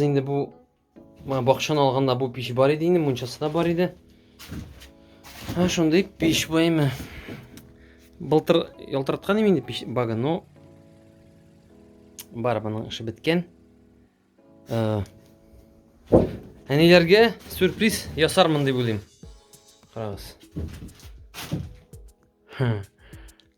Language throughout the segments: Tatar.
Инде бу менә бакчаны алганда бу пич бар иде инде, мунчасы да бар иде. Һә шундый пич баймы. Былтыр ялтыраткан инде пич бага, но бар моның эше беткән. Э, әниләргә сюрприз ясармын дип уйлыйм. Карагыз.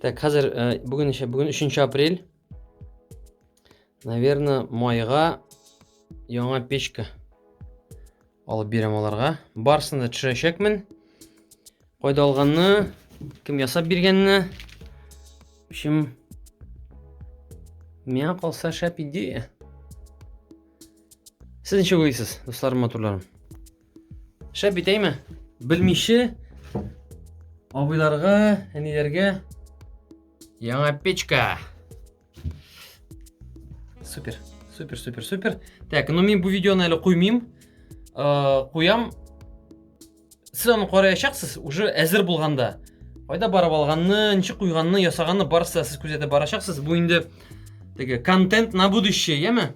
Так, хәзер э, бүген исә бүген 3 апрель. Наверное, майга яңа печка алып бирәм аларга. Барсын да төшерәчәкмен. Кайда алганны, кем ясап биргәнне. В общем, миңа калса шәп идея. Сез ничек уйлыйсыз, дусларым, матурларым? Шәп бит, әйме? Белмичә абыйларга, әниләргә яңа печка. Супер, супер, супер, супер. Так, ну мин бу видеоны әле куймыйм. Куям. Сез аны караячаксыз уже әзер булганда. Кайда барып алганны, ничек куйганны, ясаганны барысы сез күзәтеп барачаксыз. Бу инде теге контент на будущее, яме?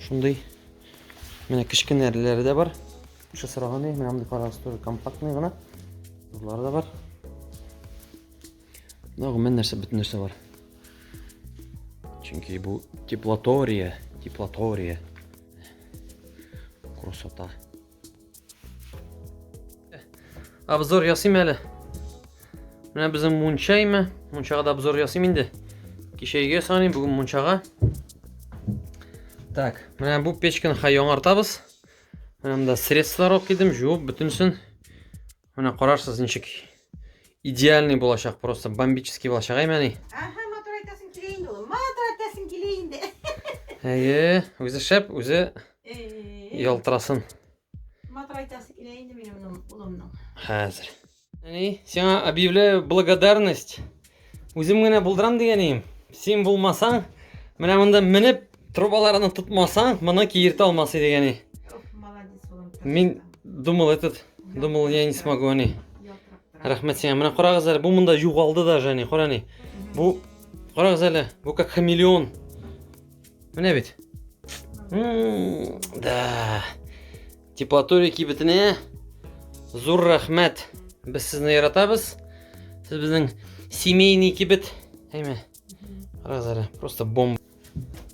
Шундый менә кечкенәләре дә бар. Шушы сораган ди, менә мондый карагыз, тоже компактный гына. Булар да бар. Мына гомумән нәрсә, бөтен нәрсә бар. Чөнки бу теплотория, теплотория. Красота. Обзор ясыйм әле. Менә безнең мунча име? Мунчага да обзор ясыйм инде. Кичә өйгә саныйм, бүген мунчага. Так, менә бу печканы хай яңартабыз. Менә монда средстволар алып килдем, жуып бөтенсен. Менә карарсыз ничек идеальный булачак, просто бомбический булачак, әй мәни. Аха, матур айтасың килә инде ул. Матур айтасың килә инде. Әйе, үзе шәп, үзе ялтырасын. Матур айтасы килә инде минем улымның. Хәзер. Әни, сиңа объявляю благодарность. Үзем генә булдырам дигәнем. Син булмасаң, менә монда менеп, трубаларны тотмасаң, моны киертә алмас иде гәни. Мин думал этот, думал я не смогу ани. Рәхмәт сиңа. Менә карагыз әле, бу монда югалды даже ани, кара ни. Бу карагыз әле, бу как хамелеон. Менә бит. Да. Теплотория кибетенә зур рәхмәт. Без сезне яратабыз. Сез безнең семейный кибет. Әйме. Раз әле. Просто бомба.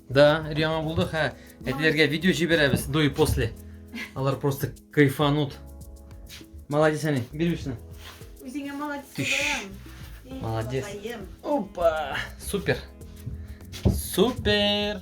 Да, яңа булды. Хә, әтиләргә видео җибәрәбез до и после. Алар просто кайфанут. Молодец, Ани. Бир бирсен. Үзеңә молодец. Молодец. Опа! Супер. Супер.